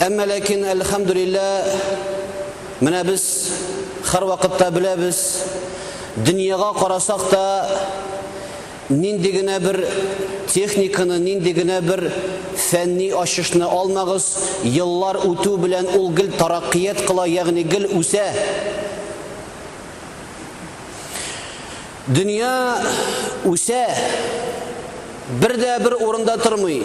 Әмма ләкин, әлхәмдүлиллә, менә без һәрвакытта беләбез, дөньяга карасак та, нинди генә бер техниканы, нинди генә бер фәнни ачышны алмагыз, еллар үтү белән ул гел тараккият кыла, ягъни гел үсә. Дөнья үсә, бер дә бер урында тормый.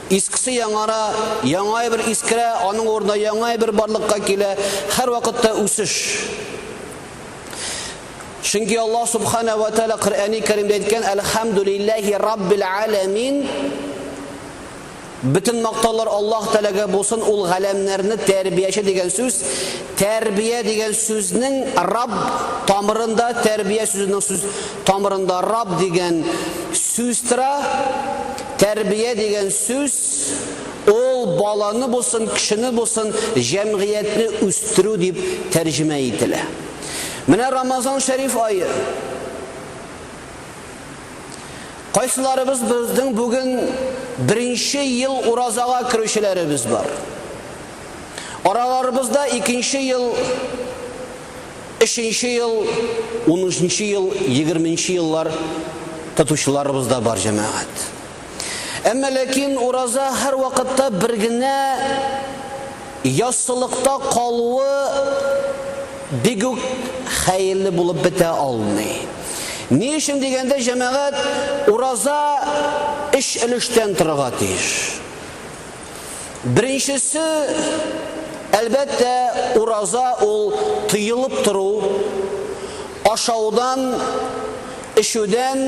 Искесе яңара, яңа әйбер искерә, аның урынына яңа әйбер барлыкка килә. Һәрвакытта үсеш. Чөнки Аллаһ субхана ва тааля Коръәни Кәримдә әйткән: "Әлхәмдүлилләһи раббил аләмин" Бөтен мактаулар Аллаһ Тәгаләгә булсын, ул галәмнәрне тәрбияче дигән сүз, тәрбия дигән сүзнең Рабб тамырында, тәрбия сүзенең сүз тамырында Рабб дигән сүз тора. Тәрбия дигән сүз ул баланы булсын, кешене булсын, җәмгыятьне үстерү дип тәрҗемә ителә. Менә Рамазан шәриф ае. Кайсыларыбыз безнең бүген беренче ел уразага керүчеләребез бар. Араларыбызда икенче ел, өченче ел, унынчы ел, егерменче еллар тотучыларыбыз да бар җәмәгать. Әмма ләкин ураза һәрвакытта бер генә яссылыкта калуы бик үк хәерле булып бетә алмый. Ни өчен дигәндә, җәмәгать ураза өч өлештән торырга тиеш. Беренчесе, әлбәттә, ураза ул тыелып тору, ашаудан, эчүдән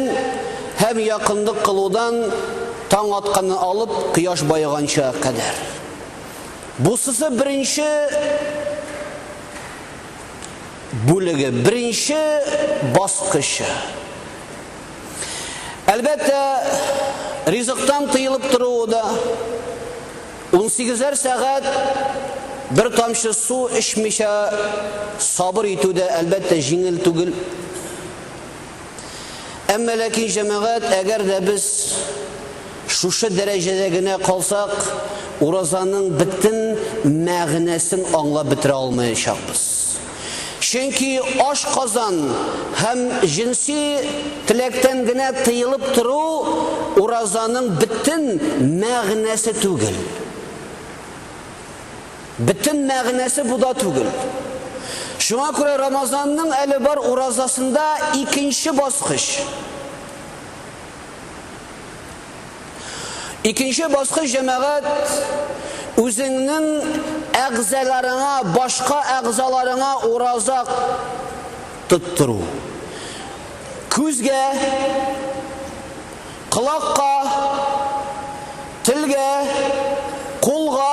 һәм якынлык кылудан таң атканнан алып кояш баеганча кадәр. Бусысы беренче бүлеге, беренче баскычы. Әлбәттә, ризыктан тыелып торуы да, унсигезәр сәгать бер тамчы су эчмичә сабыр итү дә, әлбәттә, җиңел түгел. Әмма ләкин, җәмәгать, әгәр дә без шушы дәрәҗәдә генә калсак, уразаның бөтен мәгънәсен аңлап бетерә алмаячакбыз. Чөнки ашказан һәм җенси теләктән генә тыелып тору уразаның бөтен мәгънәсе түгел. Бөтен мәгънәсе бу да түгел. Шуңа күрә Рамазанның әле бар уразасында икенче баскыч. Икенче баскыч җәмәгать үзеңнең әгъзаларыңа, башка әгъзаларыңа ураза тоттыру. Күзгә, колакка, телгә, кулга,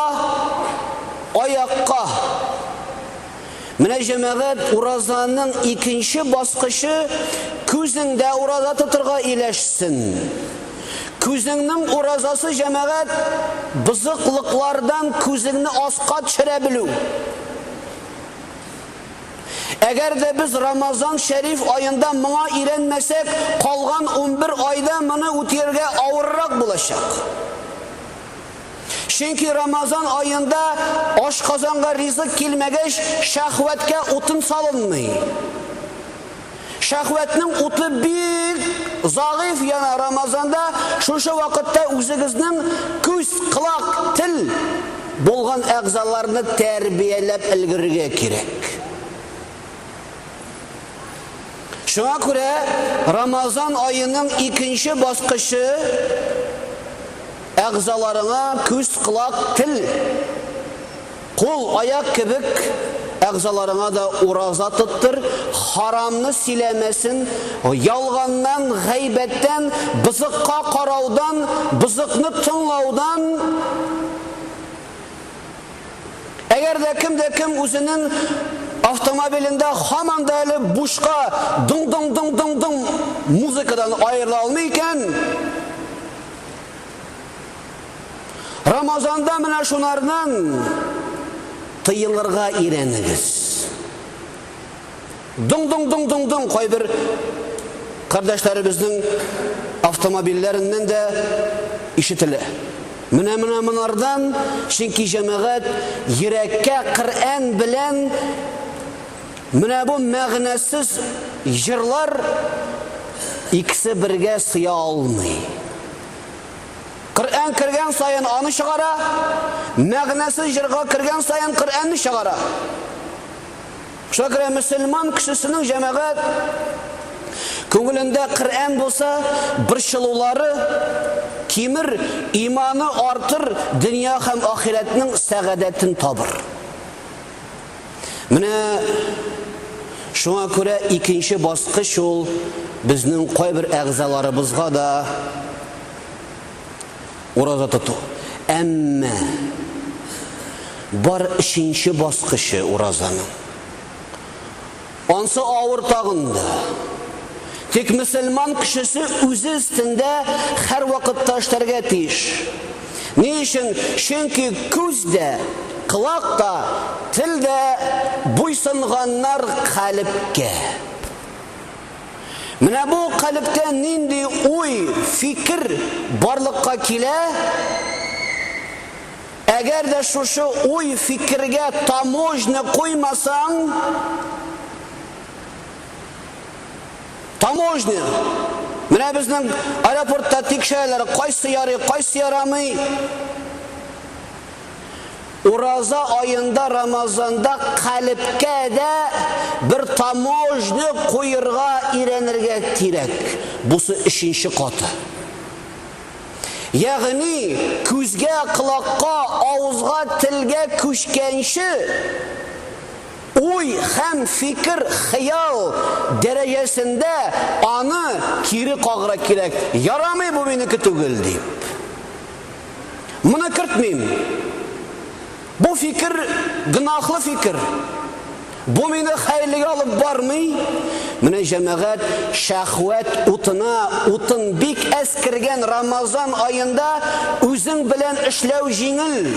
аякка. Менә җәмәгать уразаның икенче баскычы күзеңдә ураза тотырга иләшсен. Күзеңнең уразасы җәмәгать бозыклыклардан күзеңне аска төшерә белү. Әгәр дә без Рамазан шәриф аенда моңа өйрәнмәсәк, калган унбер айда моны үтиергә авыррак булачак. Чөнки Рамазан аенда ашказанга ризык килмәгәч, шәһвәткә утын салынмый. Шәһвәтнең уты бик загыйф яна Рамазанда, шушы вакытта үзегезнең күз, колак, тел булган әгъзаларны тәрбияләп өлгерергә кирәк. Шуңа күрә Рамазан аеның икенче баскычы әгъзаларыңа күз, колак, тел, кул, аяк кебек әгъзаларыңа да ураза тоттыр, харамны сөйләмәсен, ялганнан, гайбәттән, бозыкка караудан, бозыкны тыңлаудан Әгәр дә кем дә кем үзенең автомобилендә һаман да әле бушка дың-дың-дың-дың-дың музыкадан аерыла алмый икән, Рамазанда менә шунардан тыелырга өйрәнегез. Дуң-дуң-дуң-дуң-дуң кайбер кардәшләребезнең автомобильләреннән дә ишетелә. Менә менә монардан, чөнки җәмәгать йөрәккә Коръән белән менә бу мәгънәсез җырлар икесе бергә сыя алмый. Коръән кергән саен аны чыгара, мәгънәсез җырга кергән саен Коръәнне чыгара. Шуңа күрә мөселман кешесенең җәмәгать күңелендә Коръән булса, борчылулары кимер, иманы артыр, дөнья һәм ахирәтнең сәгадәтен табыр. Менә шуңа күрә икенче баскыч ул безнең кайбер әгъзаларыбызга да Ураза тоту. Әмма бар өченче баскычы уразаның. Ансы авыр тагында. Тик мөселман кешесе үзе өстендә һәрвакытта эшләргә тиеш. Ни өчен? Чөнки күз дә, колак та, тел дә буйсынганнар калепкә. Менә бу калебтә нинди уй, фикер барлыкка килә? Әгәр дә шушы уй, фикергә таможня куймасаң, таможня, менә безнең аэропортта тикшерәләр, кайсы ярый, кайсы ярамый, Ураза аенда Рамазанда калебкә дә бер таможня куерга өйрәнергә кирәк. Бусы өченче каты. Ягъни күзгә, колакка, авызга, телгә күчкәнче уй һәм фикер, хыял дәрәҗәсендә аны кире кагыра кирәк, ярамый бу минеке түгел дип. Моны кертмим. Бу фикер гөнаһлы фикер. Бу мине хәерлегә алып бармый. Менә җәмәгать шәхвәт утына утын бик әз кергән Рамазан аенда үзең белән эшләү җиңел.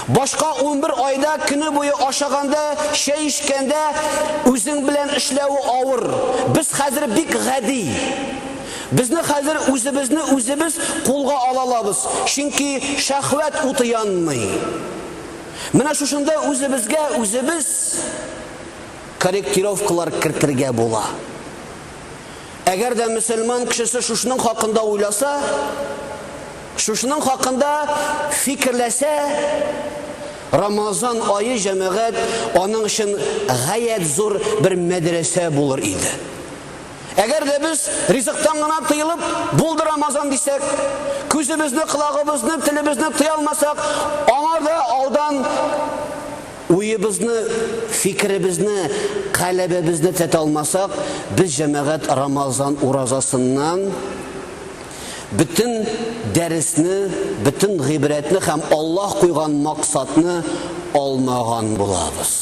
Башка унбер айда көне буе ашаганда, чәй эчкәндә үзең белән эшләве авыр. Без хәзер бик гади. Безне хәзер үзебезне үзебез кулга ала алабыз, чөнки шәһвәт уты янмый. Менә шушында үзебезгә үзебез корректировкалар кертергә була. Әгәр дә мөселман кешесе шушның хакында уйласа, шушның хакында фикерләсә, Рамазан айы җәмәгать аның өчен гаять зур бер мәдрәсә булыр иде. Әгәр дә без ризыктан гына тыелып, булды Рамазан дисәк, күзебезне, колагыбызны, телебезне тыя алмасак, аңа да алдан Уебызны, фикеребезне, каләбебезне тетә алмасак, без җәмәгать Рамазан уразасыннан бөтен дәресне, бөтен гыйбрәтне һәм Аллаһ куйган максатны алмаган булабыз.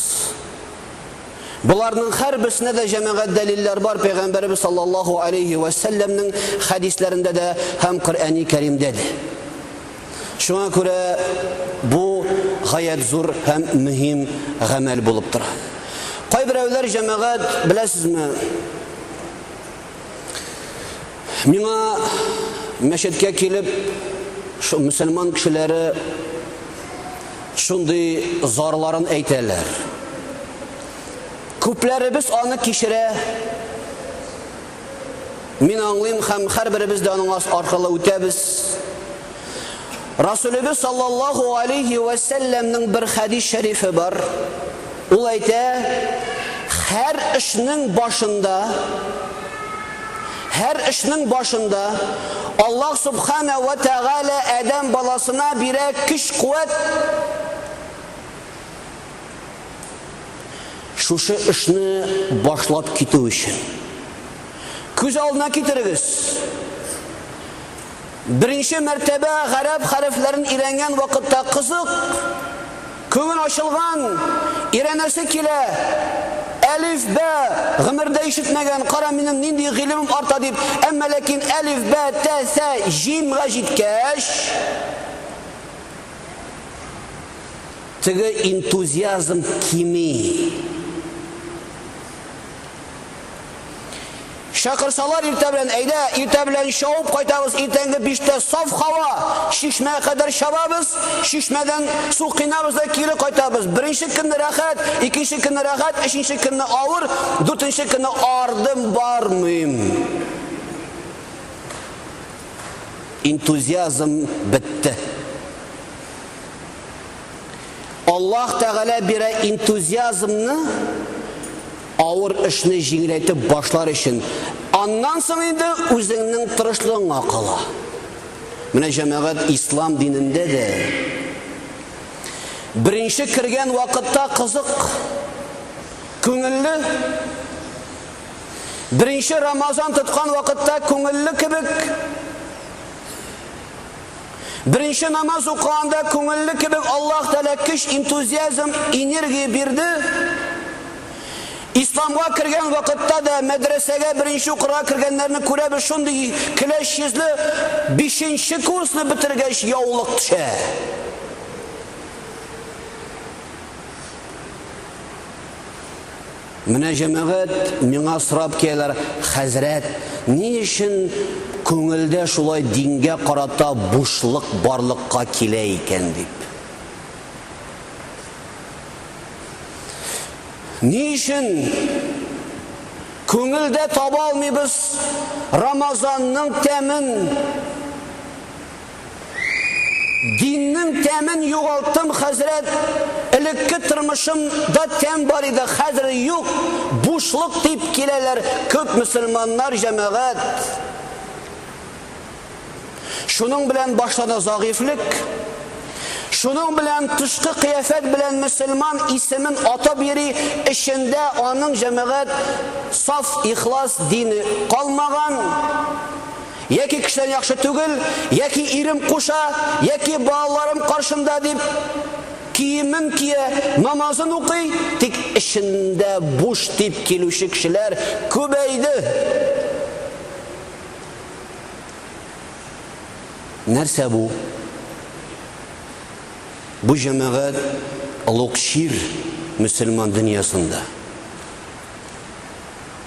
Боларның һәрберсенә дә җәмәгать дәлилләр бар, пәйгамбәребез саллаллаһу алейһи вә сәлләмнең хәдисләрендә дә һәм Коръәни Кәримдә дә. Шуңа күрә бу гаять зур һәм мөһим гамәл булып тора. Кайберәүләр җәмәгать, беләсезме, миңа мәчеткә килеп, шул мөселман кешеләре шундый зарларын әйтәләр. Күпләребез аны кичерә, Мин аңлыйм һәм һәрберебез дә аның аркылы үтәбез. Расулебез саллаллаху алейхи ва сәлләмнең бер хәдис шәрифе бар. Ул әйтә, һәр эшнең башында һәр эшнең башында Аллаһ субхана ва тәгалә Адәм баласына бирә көч-куәт. Шушы эшне башлап китү өчен. Күз алдына китерегез. Беренче мәртәбә гарәп хәрефләрен өйрәнгән вакытта кызык, күңел ачылган, өйрәнәсе килә. Әлиф бә гомердә ишетмәгән, кара минем нинди гыйлемем арта дип, әмма ләкин әлиф бә тә сә җимга җиткәч, Теге энтузиазм кими. Чакырсалар иртә белән, әйдә, иртә белән чауып кайтабыз, иртәнге биштә саф хава, чишмә кадәр чабабыз, чишмәдән су кыйнабыз да кире кайтабыз. Беренче көнне рәхәт, икенче көнне рәхәт, өченче көнне авыр, дүртенче көнне ардым бармыйм. Энтузиазм бетте. Аллаһ Тәгалә бирә энтузиазмны авыр эшне җиңеләйтеп башлар өчен. Аннан соң инде үзеңнең тырышлыгыңа кала. Менә җәмәгать ислам динендә дә беренче кергән вакытта кызык, күңелле. Беренче Рамазан тоткан вакытта күңелле кебек. Беренче намаз укыганда күңелле кебек Аллаһ Тәгалә көч, энтузиазм, энергия бирде. Исламга кергән вакытта да мәдрәсәгә беренче укырга кергәннәрне күрәбез, шундый көләч йөзле, бишенче курсны бетергәч яулык төшә. Менә җәмәгать миңа сорап киләләр, Хәзрәт, ни өчен күңелдә шулай дингә карата бушлык барлыкка килә икән дип. Ни өчен күңелдә таба алмыйбыз Рамазанның тәмен? Диннең тәмен югалтым хәзрәт, элекке тормышым да тәм бар иде, хәзер юк, бушлык дип киләләр күп мөселманнар җәмәгать. Шуның белән башта да загыйфлек, шуның белән тышкы кыяфәт белән мөселман исемен атап йөри, эчендә аның җәмәгать саф ихлас дине калмаган. Яки кешедән яхшы түгел, яки ирем куша, яки балаларым каршында дип, киемен кия, намазын укый, тик эчендә буш дип килүче кешеләр күбәйде. Нәрсә бу? Бу җәмәгать олуг чир мөселман дөньясында.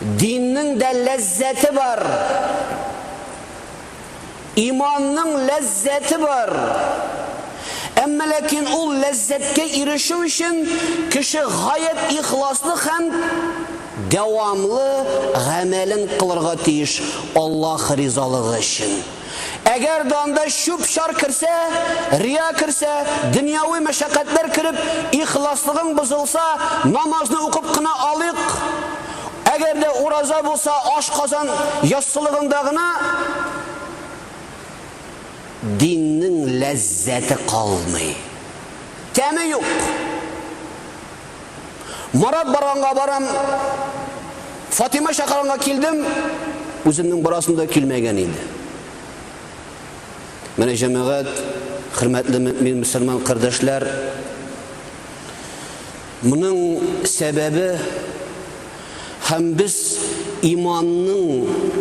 Диннең дә ләззәте бар. Иманның ләззәте бар. Әмма ләкин ул ләззәткә ирешү өчен кеше гаять ихласлы һәм дәвамлы гамәлен кылырга тиеш Аллаһ ризалыгы өчен. Әгәр дә анда чүп-чар керсә, рия керсә, дөньяви мәшәкатьләр кереп, ихласлыгың бозылса, намазны укып кына алыйк, әгәр дә ураза булса, ашказан яссылыгында гына диннең ләззәте калмый, тәме юк. Марат барганга барам, Фатима чакырганга килдем, үземнең барасым да килмәгән иде. Менә җәмәгать, хөрмәтле мөмин мөселман кардәшләр, моның сәбәбе һәм без иманның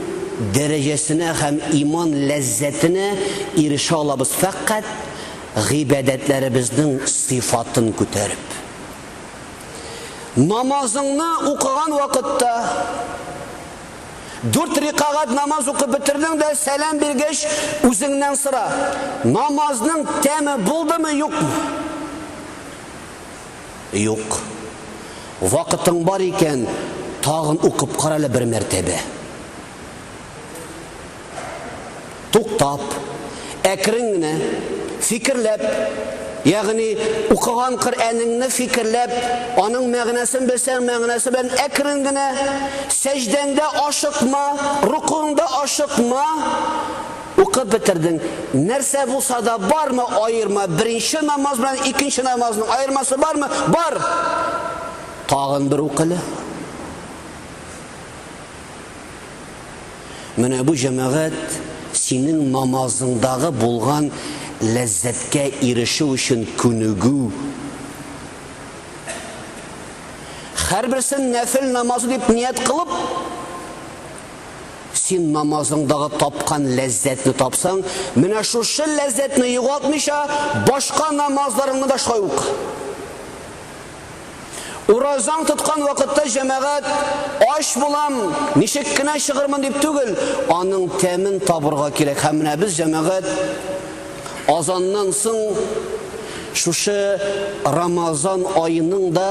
дәрәҗәсенә һәм иман ләззәтенә ирешә алабыз фәкать Гыйбадәтләребезнең сыйфатын күтәреп. Намазыңны укыган вакытта, дүрт рикагать намаз укып бетердең дә, сәлам биргәч, үзеңнән сора, намазның тәме булдымы, юкмы? Юк. Вакытың бар икән, тагын укып кара әле бер мәртәбә. туктап, әкрен генә, фикерләп, ягъни укыган Коръәнеңне фикерләп, аның мәгънәсен белсәң, мәгънәсе белән әкрен генә, сәҗдәңдә ашыкма, рукуңда ашыкма, укып бетердең. Нәрсә булса да бармы аерма? Беренче намаз белән икенче намазның аермасы бармы? Бар. Тагын бер укылы. Менә бу җәмәгать синең намазыңдагы булган ләззәткә ирешү өчен күнегү. Һәрберсен нәфел намазы дип ният кылып, син намазыңдагы тапкан ләззәтне тапсаң, менә шушы ләззәтне югалтмыйча, башка намазларыңны да шулай ук. Уразаң тоткан вакытта җәмәгать ач булам, ничек кенә чыгырмын дип түгел, аның тәмен табырга кирәк. Һәм менә без җәмәгать азаннан соң шушы Рамазан аеның да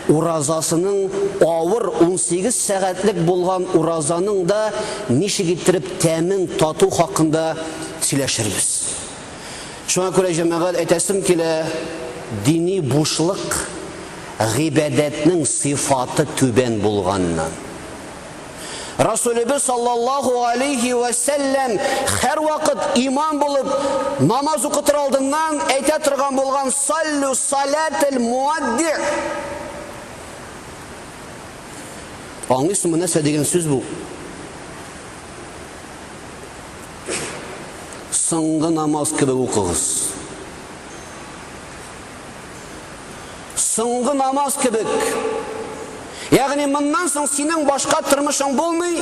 уразасының авыр 18 сәгатьлек булган уразаның да ничек иттереп тәмен тату хакында сөйләшербез. Шуңа күрә, җәмәгать, әйтәсем килә, дини бушлык гыйбадәтнең сыйфаты түбән булганнан. Расулебез саллаллаху алейхи вә сәлләм һәрвакыт имам булып намаз укытыр алдыннан әйтә торган булган саллю салател муадди. Аңлыйсыңмы нәрсә дигән сүз бу? Соңгы намаз кебек укыгыз. Соңгы намаз кебек. Ягъни моннан соң синең башка тормышың булмый.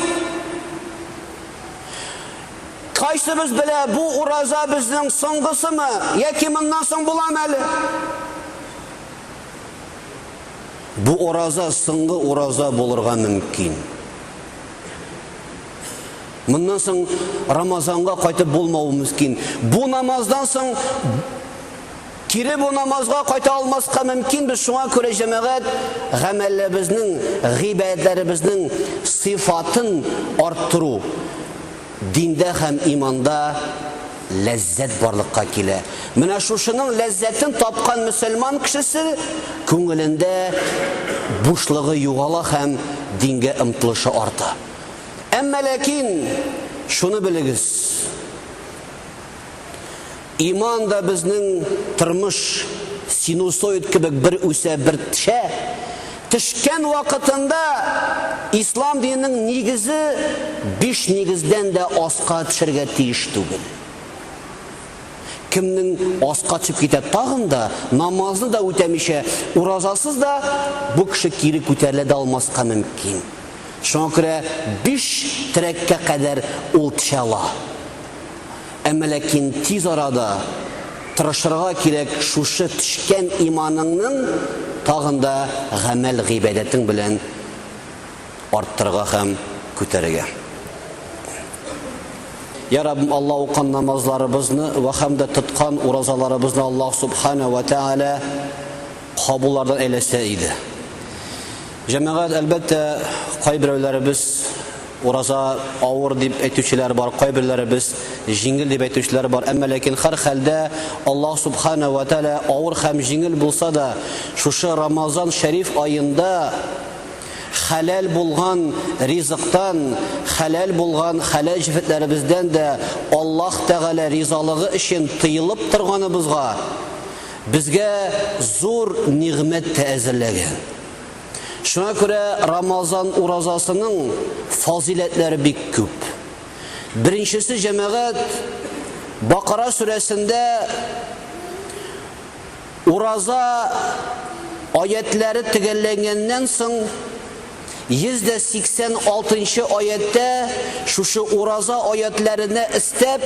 Кайсыбыз белә, бу ураза безнең соңгысымы, яки моннан соң буламы әле? Бу ураза соңгы ураза булырга мөмкин. Моннан соң Рамазанга кайтып булмау мөмкин. Бу намаздан соң кире бу намазга кайта алмаска мөмкин без. Шуңа күрә җәмәгать гамәлебезнең, гыйбадәтләребезнең сыйфатын арттыру диндә һәм иманда ләззәт барлыкка килә. Менә шушының ләззәтен тапкан мөселман кешесе күңелендә бушлыгы югала һәм дингә омтылышы арта. Әмма ләкин шуны белегез, иман да безнең тормыш синусоид кебек бер үсә, бер тшә, тшкән вакытында ислам диненең нигезе биш нигездән дә аска тшергә тиеш түгел. Кемнең аска тшеп китә тагын да, намазны да үтәмичә, уразасыз да, бу кеше кире күтәрелә дә алмаска мөмкин. Шуңа күрә биш терәккә кадәр ул төшә ала. Әмма ләкин тиз арада тырышырга кирәк шушы төшкән иманыңның тагын да гамәл-гыйбадәтең белән арттырырга һәм күтәрергә. Йә Раббым, Алла укан намазларыбызны вә һәм дә тоткан уразаларыбызны Аллаһ Субхана вә Тәгалә кабуллардан әйләсә иде. Җәмәгать, әлбәттә, кайберәүләребез ураза авыр дип әйтүчеләр бар, кайберләребез җиңел дип әйтүчеләр бар. Әмма ләкин хәр хәлдә Аллаһ Субхана вә Тәгалә авыр һәм җиңел булса да, шушы Рамазан шәриф аенда хәләл булган ризыктан, хәләл булган хәләл җефетләребездән дә Аллаһ Тәгалә ризалыгы өчен тыелып торганыбызга безгә зур нигъмәт тә әзерләгән. Шуңа күрә Рамазан уразасының фазиләтләре бик күп. Беренчесе җәмәгать Бакара сүрәсендә ураза аятләре төгәлләнгәннән соң 186 нчы аятьтә шушы ураза аятләренә истәп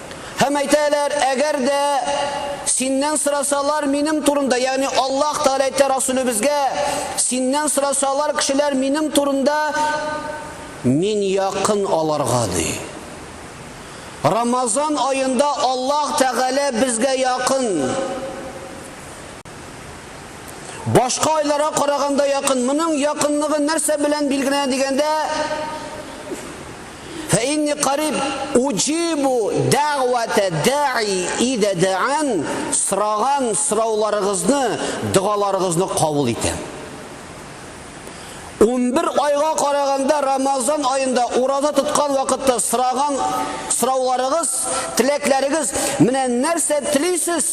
Һәм әйтәләр, әгәр дә синнән сорасалар минем турында, ягъни Аллаһ Тәгалә әйтә Расүлебезгә, синнән сорасалар кешеләр минем турында, мин якын аларга ди. Рамазан аенда Аллаһ Тәгалә безгә якын. Башка айларга караганда якын. Моның якынлыгы нәрсә белән билгеләнә дигәндә, Фәинни кариб уҗибу дәгъвәтә дәи идә дәән, сораган сорауларыгызны, догаларыгызны кабул итәм. Унбер айга караганда Рамазан аенда ураза тоткан вакытта сораган сорауларыгыз, теләкләрегез, менә нәрсә телисез?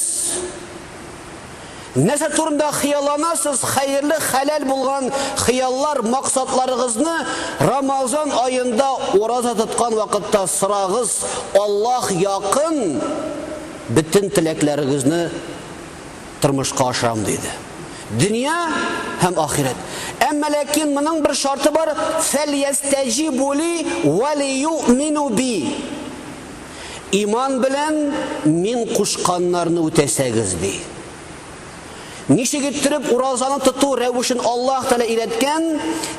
Нәрсә турында хыялланасыз? Хәерле, хәләл булган хыяллар, максатларыгызны Рамазан аенда ураза тоткан вакытта сорагыз, Аллаһ якын, бөтен теләкләрегезне тормышка ашырам, диде. Дөнья һәм ахирәт. Әмма ләкин моның бер шарты бар, фәльястәҗибу ли вәлиюъмину би. Иман белән мин кушканнарны үтәсәгез, ди. Ничек иттереп уразаны тоту рәвешен Аллаһ Тәгалә өйрәткән,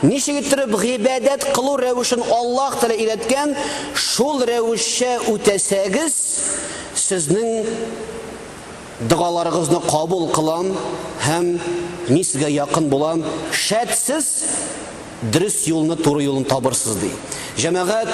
ничек иттереп гыйбадәт кылу рәвешен Аллаһ Тәгалә өйрәткән, шул рәвешчә үтәсәгез, сезнең догаларыгызны кабул кылам һәм мин сезгә якын булам. Шәт сез дөрес юлны, туры юлны табырсыз, ди. Җәмәгать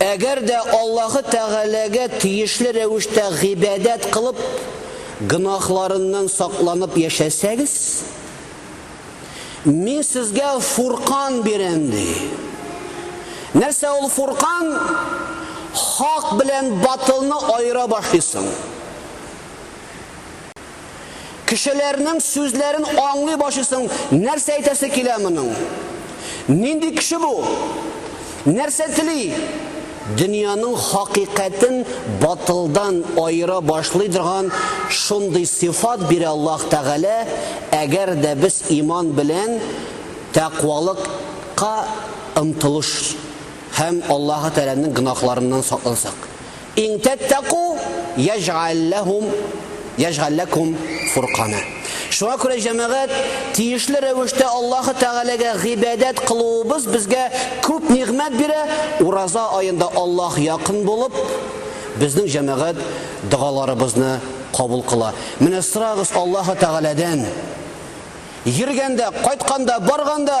Әгәр дә Аллаһы Тәгаләгә тиешле рәвештә гыйбадәт кылып, гөнаһларыннан сакланып яшәсәгез, Мин сезгә Фуркан бирәм, ди. Нәрсә ул Фуркан? Хак белән батылны аера башлыйсың. Кешеләрнең сүзләрен аңлый башлыйсың, нәрсә әйтәсе килә моның? Нинди кеше бу? Нәрсә тели? Дөньяның хакыйкатен батылдан аера башлый торган шундый сыйфат бирә Аллаһ Тәгалә, әгәр дә без иман белән тәкъвалыкка омтылыш һәм Аллаһы Тәгаләнең гөнаһларыннан саклансак. Ин тәттәку яҗгәл ләһум яҗгәл ләкум фуркана. Шуңа күрә, җәмәгать, тиешле рәвештә Аллаһы Тәгаләгә гыйбадәт кылуыбыз безгә күп нигъмәт бирә, ураза аенда Аллаһ якын булып, безнең җәмәгать догаларыбызны кабул кыла. Менә сорагыз Аллаһы Тәгаләдән, йөргәндә, кайтканда, барганда!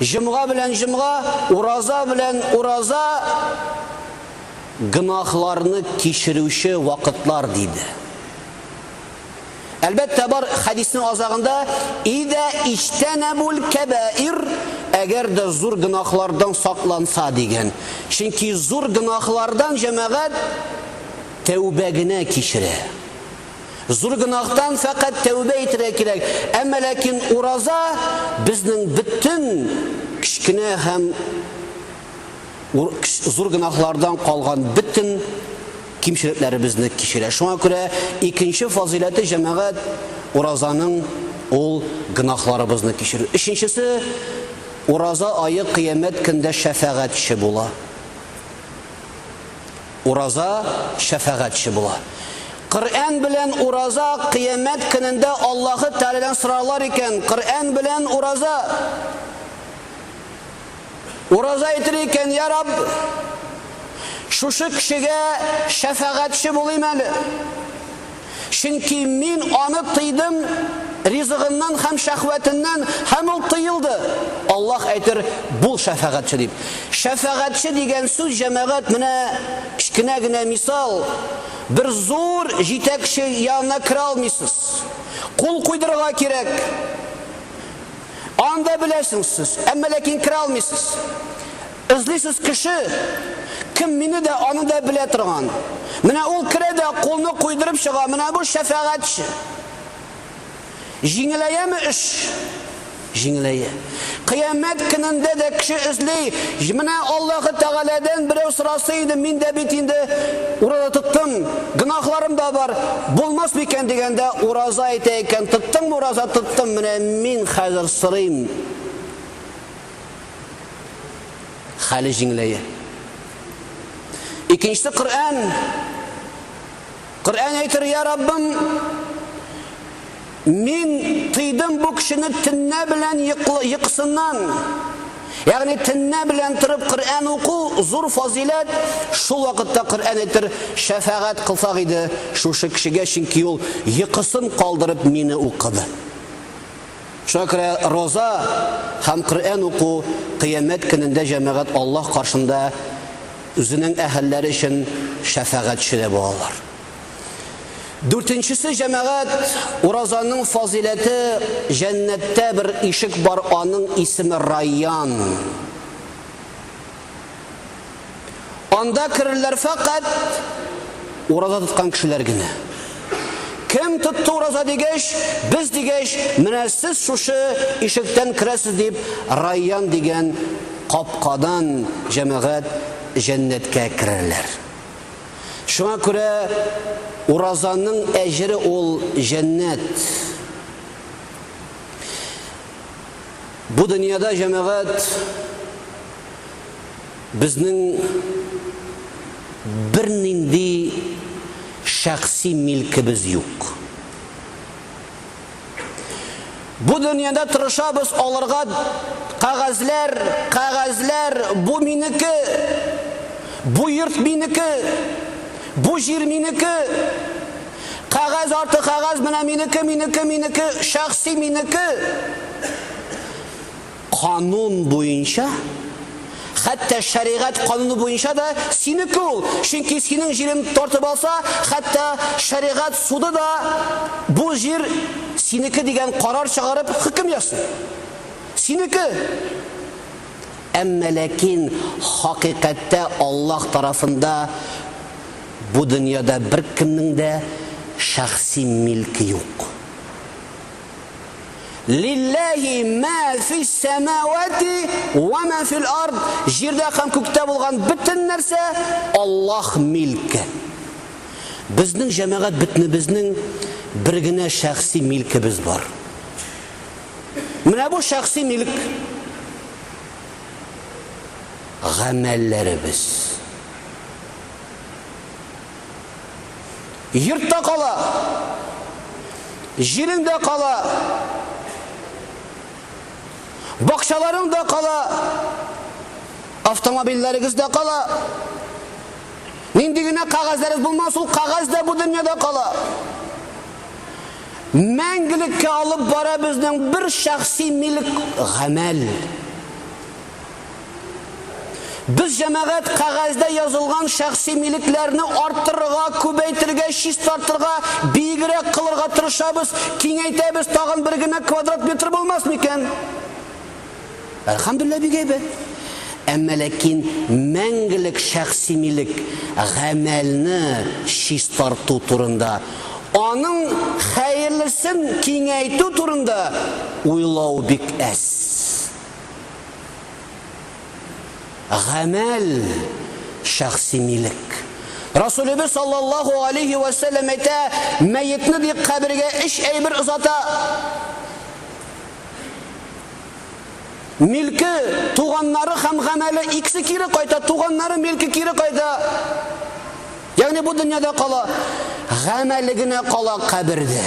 Җомга белән җомга, ураза белән ураза гөнаһларны кичерүче вакытлар, диде. Әлбәттә, бар хәдиснең азагында идә иҗтәнәбул кәбәир, әгәр дә зур гөнаһлардан сакланса дигән. Чөнки зур гөнаһлардан җәмәгать тәүбә генә кичерә. Зур гөнаһтан фәкать тәүбә итәргә кирәк, әмма ләкин ураза безнең бөтен кечкенә һәм зур гөнаһлардан калган бөтен кимчелекләребезне кичерә. Шуңа күрә икенче фазыйләте җәмәгать уразаның ул гөнаһларыбызны кичерү. Өченчесе ураза айы кыямәт көндә шәфәгатьче була. Ураза шәфәгатьче була. Коръән белән ураза кыямәт көнендә Аллаһы Тәгаләдән сорарлар икән, Коръән белән ураза. Ураза әйтер икән, Йә Рабб, шушы кешегә шәфәгатьче булыйм әле. Чөнки Мин аны тыйдым ризыгыннан һәм шәһвәтеннән, һәм ул тыелды. Аллаһ әйтер, Бул шәфәгатьче дип. Шәфәгатьче дигән сүз, җәмәгать, менә кечкенә генә мисал, бер зур җитәкче янына керә алмыйсыз. Кул куйдырырга кирәк. Анда беләсең сез, әмма ләкин керә алмыйсыз. Эзлисез кеше, кем мине дә, аны да белә торган. Менә ул керә дә кулны куйдырып чыга, менә бу шәфәгатьче. Җиңеләяме эш? Җиңеләя. Кыямәт көнендә дә кеше эзли, менә Аллаһы Тәгаләдән берәү сораса иде, мин дә бит инде ураза тоттым, гөнаһларым да бар, булмас микән дигәндә, ураза әйтә икән, тоттыңмы ураза, тоттым, менә мин хәзер сорыйм. Хәле җиңеләя. Икенче Коръән. Коръән әйтер, я Раббым, мин тыйдым бу кешене төннә белән йокысыннан. Ягъни төннә белән торып Коръән уку зур фазиләт. Шул вакытта Коръән әйтер, шәфәгать кылсак иде шушы кешегә, чөнки ул йокысын калдырып мине укыды. Шуңа күрә роза һәм Коръән уку Кыямәт көнендә җәмәгать Аллаһ каршында үзенең әһелләре өчен шәфәгатьче дә булалар. Дүртенчесе, җәмәгать, уразаның фазыйләте, җәннәттә бер ишек бар, аның исеме Райян. Анда керерләр фәкать ураза тоткан кешеләр генә. Кем тотты ураза дигәч, без дигәч, менә сез шушы ишектән керәсез дип, Райян дигән капкадан җәмәгать җәннәткә керерләр. Шуңа күрә уразаның әҗере ул җәннәт. Бу дөньяда җәмәгать Безнең бернинди шәхси милкебез юк. Бу дөньяда тырышабыз алырга кәгазьләр, кәгазьләр, бу минеке, бу йорт минеке, бу җир минеке, кәгазь арты кәгазь менә минеке, минеке, минеке, шәхси минеке. Канун буенча, хәтта шәригать кануны буенча да синеке ул, чөнки синең җирен тартып алса, хәтта шәригать суды да бу җир синеке дигән карар чыгарып хөкем ясый. Синеке! Әмма ләкин хакыйкатьтә Аллаһ тарафында бу дөньяда беркемнең дә шәхси милке юк. Лилләһи мә фис сәмәвати ва мә фил ард. Җирдә һәм күктә булган бөтен нәрсә Аллаһ милке. Безнең җәмәгать бөтенебезнең бер генә шәхси милкебез бар. Менә бу шәхси милк гамәлләребез. Йорт та кала, җирең дә кала, бакчаларың да кала, автомобильләрегез дә кала. Нинди генә кәгазьләрегез булмас, ул кәгазь дә бу дөньяда кала. Мәңгелеккә алып бара безнең бер шәхси милек гамәл. Без җәмәгать кәгазьдә язылган шәхси милекләрне арттырырга, күбәйтергә, чистартырга, биегрәк кылырга тырышабыз, киңәйтәбез, тагын бер генә квадрат метр булмас микән? Әлхәмдүлилләһ, бик әйбәт. Әмма ләкин мәңгелек шәхси милек гамәлне чистарту турында, аның хәерлесен киңәйтү турында уйлау бик әз. Гамәл шәхси милек. Расулебез саллаллаһу алейхи вә сәлләм әйтә, мәетне дип кабергә өч әйбер озата. Милке, туганнары һәм гамәле икесе кире кайта, туганнары милке кире кайта. Ягъни бу дөньяда кала, гамәле генә кала кабердә.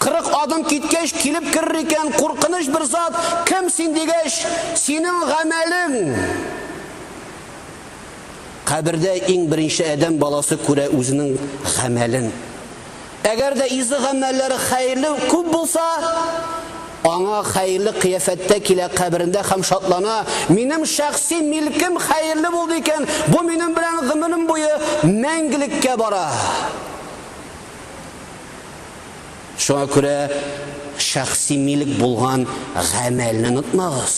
Кырык адым киткәч, килеп керер икән куркыныч бер зат, Кем син? дигәч, Синең гамәлең! Кабердә иң беренче адәм баласы күрә үзенең гамәлен. Әгәр дә изге гамәлләре хәерле күп булса, аңа хәерле кыяфәттә килә каберендә һәм шатлана, Минем шәхси милкем хәерле булды икән, бу минем белән гомерем буе мәңгелеккә бара. Шуңа күрә шәхси милек булган гамәлне онытмагыз.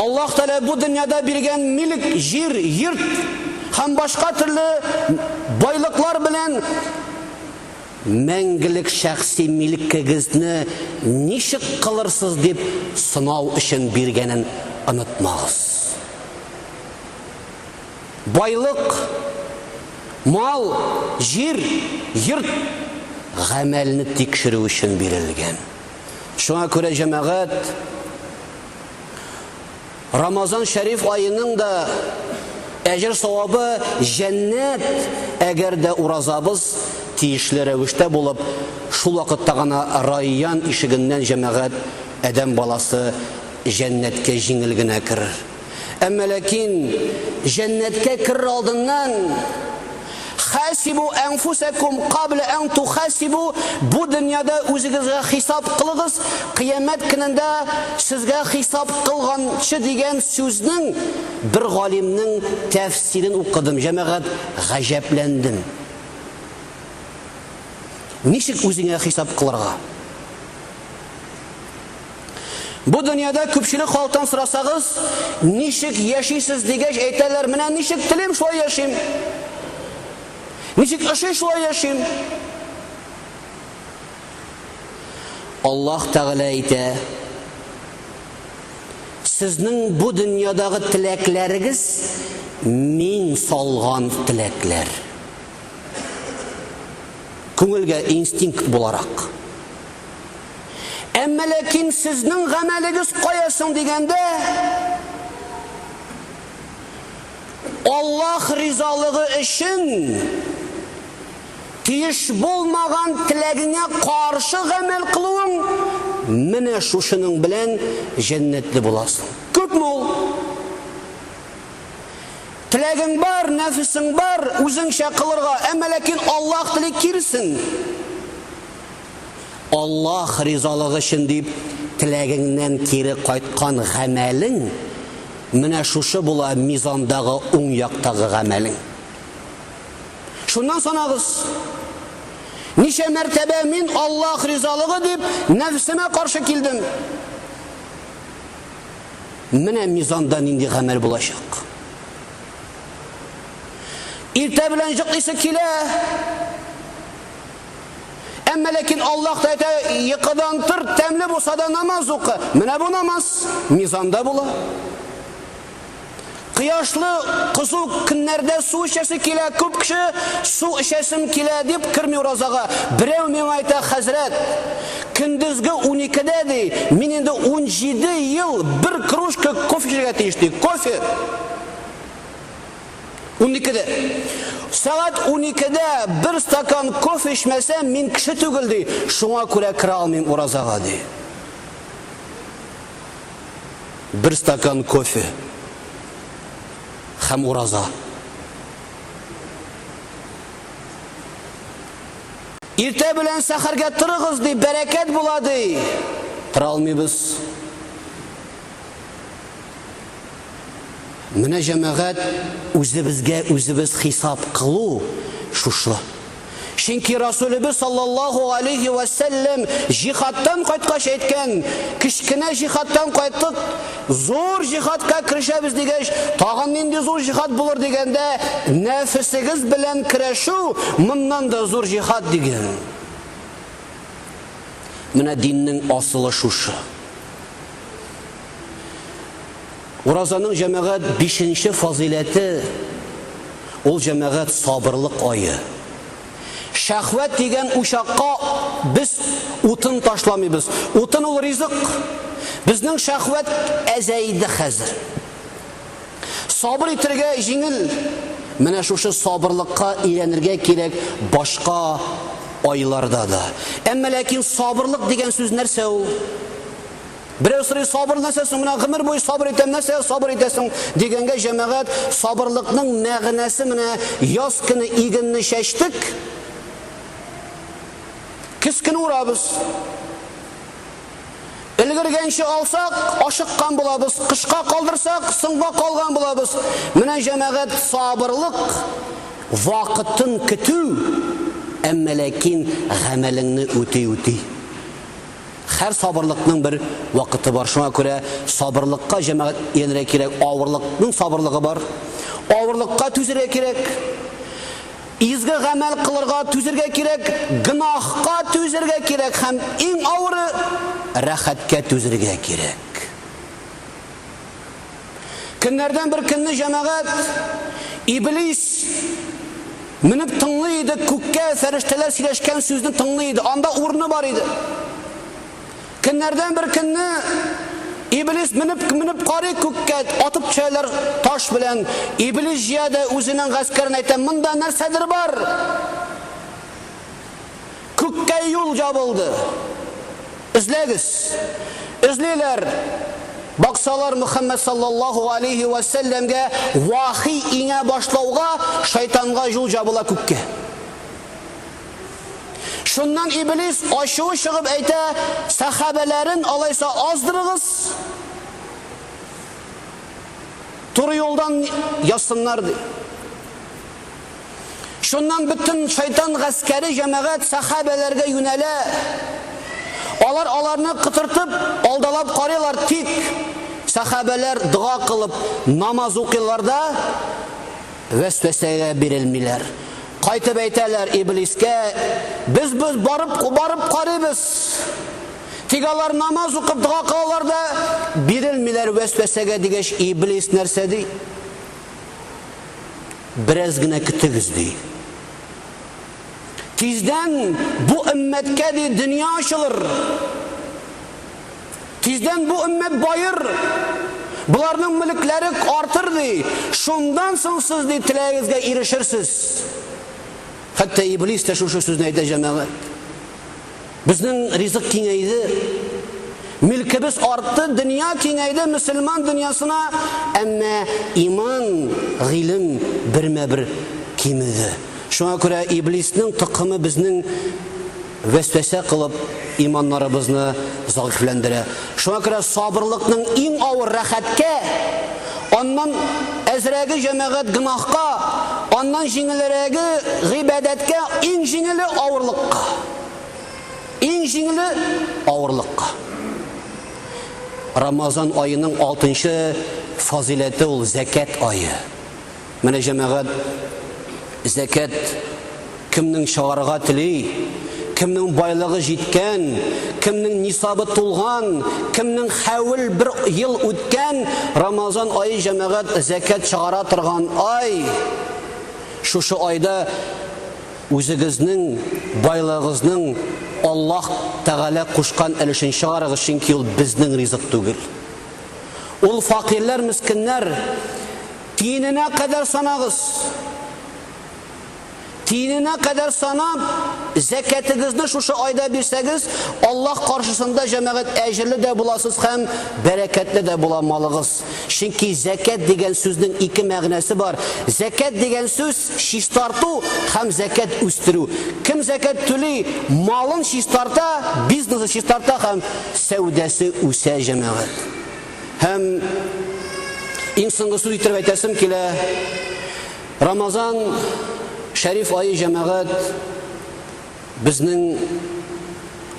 Аллаһ Тәгалә бу дөньяда биргән милек, җир, йорт һәм башка төрле байлыклар белән мәңгелек шәхси милекегезне ничек кылырсыз дип сынау өчен биргәнен онытмагыз. байлык, мал, җир, йорт гамәлне тикшерү өчен бирелгән. Шуңа күрә җәмәгать Рамазан шәриф аеның да әҗер савабы җәннәт, әгәр дә уразабыз тиешле рәвештә булып, шул вакытта гына райян ишегеннән җәмәгать адәм баласы җәннәткә җиңел генә керер. Әмма ләкин җәннәткә керер алдыннан Хасибу әнфүсәкум кабла ән тухасибу бу дөньяда үзегезгә хисап кылыгыз, кыямәт көнендә сезгә хисап кылганчы дигән сүзнең бер галимнең тәфсирен укыдым, җәмәгать гаҗәпләндем. Ничек үзеңә хисап кылырга? Бу дөньяда күпчелек халыктан сорасагыз, ничек яшисез дигәч, әйтәләр, менә ничек телим, шулай яшим. Ничек ошый, шулай яшим. Аллаһ Тәгалә әйтә, Сезнең бу дөньядагы теләкләрегез мин салган теләкләр. Күңелгә инстинкт буларак. Әмма ләкин сезнең гамәлегез кая соң дигәндә, Аллаһ ризалыгы өчен тиеш булмаган теләгеңә каршы гамәл кылуың, менә шушының белән җәннәтле буласың. Күпме ул? Теләгең бар, нәфесең бар, үзеңчә кылырга, әмма ләкин Аллаһ тели киресен. Аллаһ ризалыгы өчен дип теләгеңнән кире кайткан гамәлең менә шушы була мизандагы уң яктагы гамәлең. Шуннан санагыз. Ничә мәртәбә мин Аллаһ ризалыгы дип нәфсемә каршы килдем? Менә мизанда нинди гамәл булачак. Иртә белән җык исе килә. Әмма ләкин Аллаһ та әйтә, йокыдан тор, тәмле булса да намаз укы. Менә бу намаз мизанда була. Кояшлы кызу көннәрдә су эчәсе килә, күп кеше су эчәсем килә дип керми уразага. Берәү миңа әйтә, хәзрәт, көндезге 12-дә ди, мин инде 17 ел бер кружка кофе эчәргә тиеш ди. Кофе. Уникедә. Сәгать уникедә бер стакан кофе эчмәсәм, мин кеше түгел, ди, шуңа күрә керә алмыйм уразага, ди. Бер стакан кофе һәм ураза. Иртә белән сәхәргә торыгыз, ди, бәрәкәт була, ди. Тора алмыйбыз. Менә, җәмәгать, үзебезгә үзебез хисап кылу шушы. Чөнки Расулебез саллаллаһу галәйһи вә сәлләм җихадтан кайткач әйткән, кечкенә җихадтан кайттык, зур җихадка керешәбез дигәч, тагын нинди зур җихад булыр дигәндә, нәфесегез белән көрәшү моннан да зур җихад дигән. Менә диннең асылы шушы. Уразаның җәмәгать бишенче фазыйләте, ул җәмәгать сабырлык ае. Шәхвәт дигән учакка без утын ташламыйбыз. Утын ул ризык. Безнең шәхвәт әзәйде хәзер. Сабыр итергә җиңел. Менә шушы сабырлыкка өйрәнергә кирәк башка айларда да. Әмма ләкин сабырлык дигән сүз нәрсә ул? Берәү сорый, сабыр нәрсә соң? Менә гомер буе сабыр итәм, нәрсәгә сабыр итәсең? дигәнгә җәмәгать, сабырлыкның мәгънәсе менә яз көне игенне чәчтек, көз көне урабыз. Өлгергәнче алсак, ашыккан булабыз, кышка калдырсак, соңга калган булабыз. Менә җәмәгать сабырлык, вакытын көтү, әмма ләкин гамәлеңне үти-үти. Хәр сабырлыкның бер вакыты бар, шуңа күрә сабырлыкка җәмәгать иянергә кирәк, авырлыкның сабырлыгы бар. Авырлыкка түзергә кирәк. Изге гамәл кылырга түзергә кирәк, гөнаһка түзергә кирәк һәм иң авыры, рәхәткә түзергә кирәк. Көннәрдән бер көнне җәмәгать, Иблис, менеп тыңлый иде, күккә фәрештәләр сөйләшкән сүзне тыңлый иде. Анда урыны бар иде. Көннәрдән бер көнне Иблис менеп менеп карый күккә, атып төшәләр таш белән. Иблис җыя да үзенең гаскәрен әйтә, монда нәрсәдер бар. Күккә юл ябылды. Эзләгез. Эзлиләр. Баксалар, Мөхәммәд салләллаһу галәйһи вә сәлләмгә вахи иңә башлауга, шайтанга юл җабыла күккә. Шуннан Иблис ачуы чыгып әйтә, Сәхабәләрен алайса аздырыгыз, туры юлдан язсыннар, ди. Шуннан бөтен шайтан гаскәре җәмәгать сәхабәләргә юнәлә. Алар аларны кытыртып, алдалап карыйлар, тик сәхабәләр дога кылып намаз укыйлар да вәсвәсәгә бирелмиләр. Кайтып әйтәләр Иблискә, без без барып барып карыйбыз. Тик алар намаз укып дога кылалар да бирелмиләр вәсвәсәгә дигәч, Иблис нәрсә ди? Бераз гына көтегез, ди. Тиздән бу өммәткә, ди, дөнья ачылыр. Тиздән бу өммәт баер. Боларның мөлекләре артыр, ди. Шундан соң сез, ди, теләгегезгә ирешерсез. Хәтта Иблис тә шушы сүзне әйтә, җәмәгать. Безнең ризык киңәйде, милкебез артты, дөнья киңәйде мөселман дөньясына, әмма иман, гыйлем бермә-бер кимеде. Шуңа күрә Иблиснең токымы безнең вәсвәсә кылып, иманнарыбызны зәгыйфьләндерә. Шуңа күрә сабырлыкның иң авыр рәхәткә, аннан әзрәге җәмәгать гөнаһка, аннан җиңелрәге гыйбадәткә, иң җиңеле авырлыкка. Иң җиңеле авырлыкка. Рамазан аеның алтынчы фазиләте ул зәкәт ае. Менә җәмәгать зәкәт кемнең чыгарга тели, кемнең байлыгы җиткән, кемнең нисабы тулган, кемнең хәвел бер ел үткән, Рамазан ае җәмәгать зәкәт чыгара торган ай. Шушы айда Үзегезнең байлыгыгызның Аллаһ Тәгалә кушкан өлешен чыгарыгыз, чөнки ул безнең ризык түгел. Ул факирләр, мескеннәр, тиененә кадәр санагыз. Тиененә кадәр санап, зәкәтегезне шушы айда бирсәгез, Аллаһ каршысында җәмәгать әҗерле дә буласыз һәм бәрәкәтле дә була малыгыз. булмас. Чөнки зәкят дигән сүзнең ике мәгънәсе бар. Зәкят дигән сүз чистарту һәм зәкят үстерү. Кем зәкят түли, малын чистарта, бизнесы чистарта һәм сәүдәсе үсә, җәмәгать. Һәм иң соңгы сүз итеп әйтәсем килә. Рамазан шәриф ае җәмәгать Безнең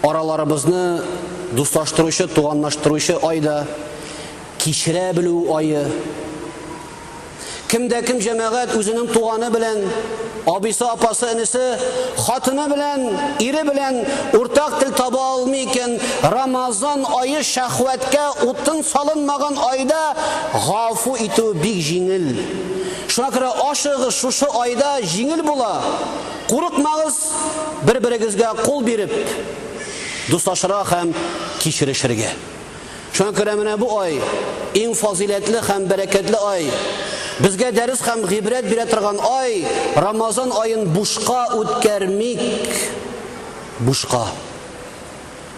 араларыбызны дуслаштыручы, туганлаштыручы ай да, кичерә белү ае. Кем дә кем җәмәгать үзенең туганы белән, абыйсы, апасы, энесе, хатыны белән, ире белән уртак тел таба алмый икән, Рамазан ае шәхвәткә утын салынмаган айда гафу итү бик җиңел. Шуңа күрә ашыгыш шушы айда җиңел була. Курыкмагыз, бер-берегезгә кул биреп, дуслашырга һәм кичерешергә. Шуңа күрә менә бу ай, иң фазыйләтле һәм бәрәкәтле ай, безгә дәрес һәм гыйбрәт бирә торган ай, Рамазан аен бушка үткәрмик, бушка.